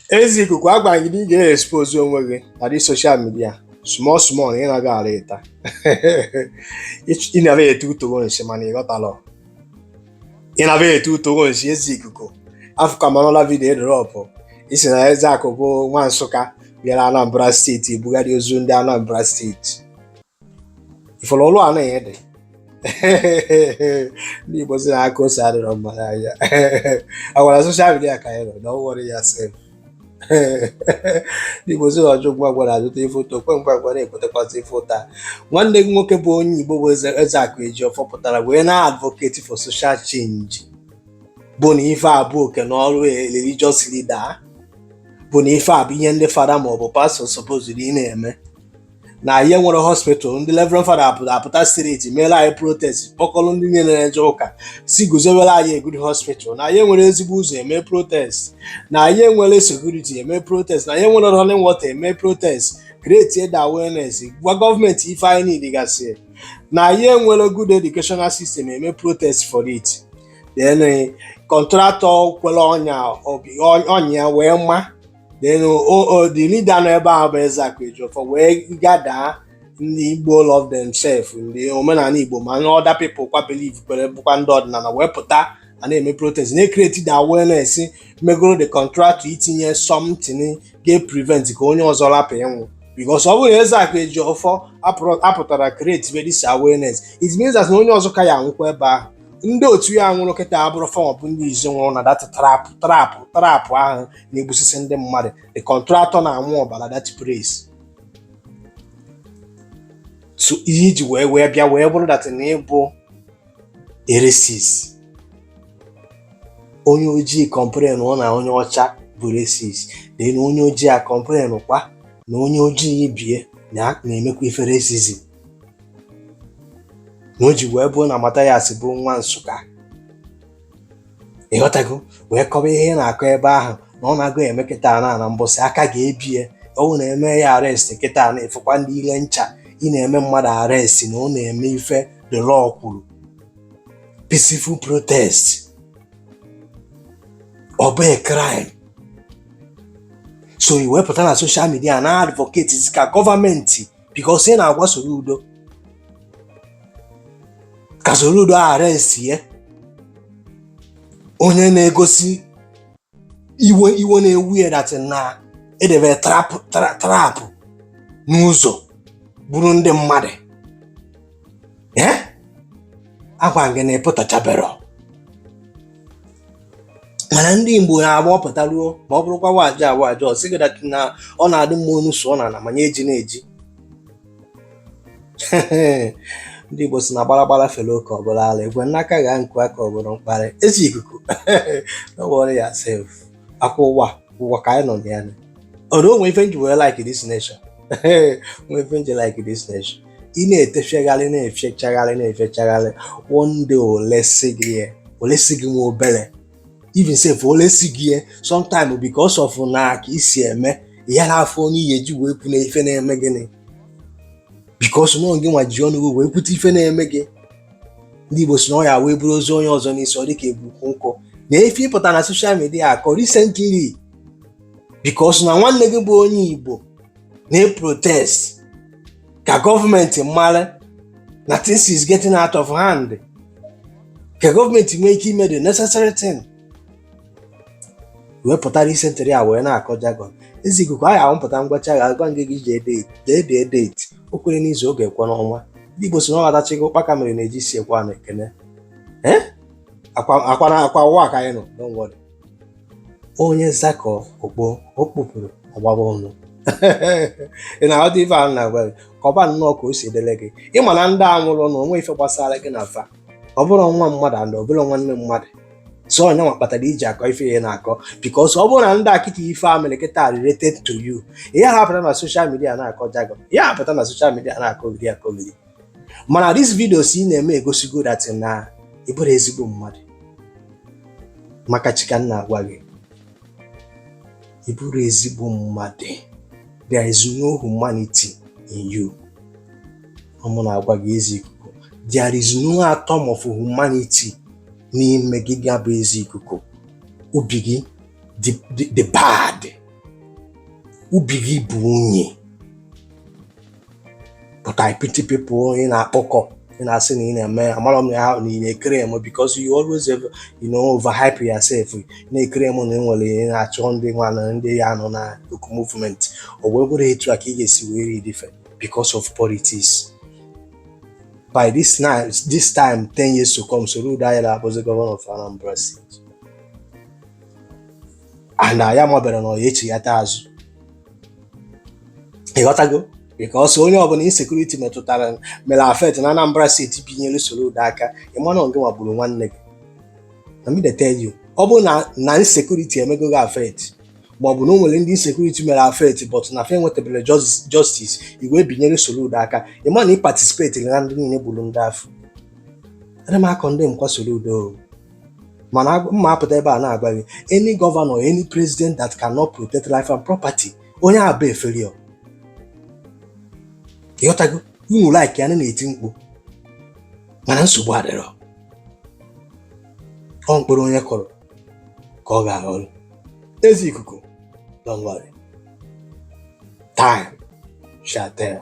Eze Ikuku agwa gị na ị ga-expose onwe gị na the soshal midia small small ị na-aga ala ịta ị na-ete otoro nsị mana ị ghọtarọ ị na-ete otoro nsị Eze Ikuku afụkwa m anụla vidiyo ị drọpụ ị sị na Ezeaku bụ nwa Nsụka bịara Anambra steeti ebugharị ozu ndị Anambra steeti ị fụrụ ọrụ a na-enye gị ndị Igbo sị na aka ose adịrọ mma n'anya agwara soshal midia ka anyị nọ na ọwụrụ ya sef ndị Igbo sị na ọjụ ngwa ngwa na-ajụta ife ụta okwe ngwa ngwa na-ekwetekwasị ife ụta nwanne gị nwoke bụ onye Igbo bụ Ezeaku Ejiofor pụtara wee na-advocate for social change bụ na ife a bụ oke na ọrụ religious leader bụ na ife a bụ ihe ndị fada maọbụ pastọ sopozuru ị na-eme na anyị enwere hospital ndị Reverend Fada apụta street meela anyị protest kpọkọrọ ndị niile na-eje ụka sị guzowere anyị a good hospital na anyị enwere ezigbo ụzọ eme protest na anyị enwere sekuriti eme protest na anyị enwere running water eme protest create the awareness gwa gọọmenti ife anyị need gasị na anyị enwere good educational system eme protest for it then eh, kọntratọ kwere ọnya wee ma then the leader nọ ebe ahụ bụ Ezeaku Ejiofor wee gadaa ndị Igbo love themselves ndị omenala Igbo ma ndị other people kwa believe kwere bụkwa ndị ọdịnala wee pụta a na-eme protest na-ekreti the awareness megoro the contractor itinye something ga-prevent ka onye ọzọ rapụ ịnwụ because ọ bụrụ na Ezeaku Ejiofor apụtarọ create this awareness it means that na onye ọzọ ka ya anwụkwa ebe ahụ ndị otu ya nwụrụ kịta abụrọ fa bụ ndị izi nwụrụ na dat trapụ ahụ na-egbusisi ndị mmadụ the kọntratọ na-aṅụ ọbara dat place so ihe i ji wee bịa wee bụrụ dat na ị bụ a racist onye ojii kọmplenụọ na onye ọcha bụ racist na onye ojii a kọmplen kwa na onye ojii ibe ya na-emekwa ife racism na o ji wee bụ na Mathias bụ nwa Nsụka ị ghọtago wee kọba ihe ị na-akọ ebe ahụ na ọ na-agụ eme kịta na na mbọsị aka ga-ebi ya ọ na-eme ya arestị kịta na ịfụkwa ndị ile ncha ị na-eme mmadụ arestị na ọ na-eme ife the law kwuru peaceful protest ọ bụ a crime so i wee pụta na soshal midia na-advocate ka gọọmenti bikos ị na-agwa Soludo ka Soludo arestie onye na-egosi iwe na-ewe ya datị na edebere trapụ n'ụzọ gburu ndị mmadụ ee agwa gị na ị pụtachabero mana ndị Igbo na-agba ọpụta ruo ma ọ bụrụkwa waji awa aja ọ sịghị that na ọ na-adị mma onu sụọ na ala manye eji na-eji ndị Igbo si na gbaragbara fere oke ọ bụrụ ala ekwe n'aka gha nkụ aka ọ bụrụ mkparị Eze Ikuku no worry yourself akwa ụwa ụwa ka anyị nọ na ya ọrụ o nwe ife m ji wee like this nation o nwe ife m ji like this nation ị na-etefegharị na-efechagharị na-efechagharị one day olesi gị olesi gị nwa obere even sef olesi gị sometime because of na ka isi eme ya na afọ onye ihe ji wee kwu na ife na-eme gịnị because na ọ gị nwa ji ọnụ gị wee kwute ife na-eme gị ndị Igbo si na ọ ya wee buru ozu onye ọzọ n'isi ọ dịka ebu ukwu nkụ na ife ị pụta na social media akọ recently because na nwanne gị bụ onye Igbo na-eprotest ka gọọmenti mara na things is getting out of hand ka gọọmenti nwee ike ime the necessary thing wee pụta recently a wee na-akọ jargon Eze Ikuku ahụ ahụ mpụta ngwacha ga agwa ngị gị jee date dee dee date o kwere n'izu ọ ga-ekwe n'ọnwa ndị Igbo si na ọ ghọtachigo ụkpaka mere na-eji si ekwe a na-ekene ee akwa akwa na akwa ụwa ka anyị nọ don't worry onye zakọ okpo o kpupụrụ ọgbaba ọnụ ị na-aghọta ife ahụ na-agwa gị kọba nnọọ ka o si edele gị ị ma na ndị a nwụrụ na o nwe ife gbasara gị na fa ọ bụrụ nwa mmadụ and ọ bụrụ nwanne mmadụ so ọ ya nwa kpatara i ji akọ ife ị na-akọ because ọ bụrụ na ndị akịta ife a mere kịta related to you ihe ha pụta na social media na-akọ jargon ihe ha pụta na social media na-akọgheri akọgheri mana this videos ị na-eme egosigo that na ị bụrọ ezigbo mmadụ maka chi ka m na-agwa gị ị bụrọ ezigbo mmadụ there is no humanity in you ọ mụ na-agwa gị Eze Ikuku there is no atom of humanity n'ime gị gị a bụ Eze Ikuku obi gị dị bad obi gị bụ unyi but I pity people ị na-akpọkọ ị na-asị na ị na-eme amarọ m ya ahụ na ị na-eclaim because you always have, you know overhype yourself na-eclaim na enwere ị na-achọ ndị nwa na ndị ya nọ na oku movement o wee bụrụ etu a ka ị ga-esi wee lead fa because of politics by this now this time 10 years to come Soludo ayala abụzi governor of Anambra State and ya mabere na ọ ya echighata azụ ị ghọtago because onye ọbụla insecurity metụtara mere affect na Anambra State binyere Soludo aka ị ma na ọ gị nwa gburu nwanne gị let me tell you ọ bụrụ na insecurity emego gị affect ma ọ bụ na o nwere ndị insecurity mere affect but na fa enwetabere justice i wee binyere Soludo aka ị ma na ị participatiri na ndị niile gburu ndị afụ ana m a-condemn kwa Soludo mana agwa- mma apụta ebe a na-agwa gị any governor any president that cannot protect life and property onye ahụ bụ a failure ịghọtago unu like ya na na-eti mkpu mana nsogbu adịrọ ọ mkpụrụ onye kụrụ ka ọ ga-aghọrọ eze ikuku don't worry time shall tell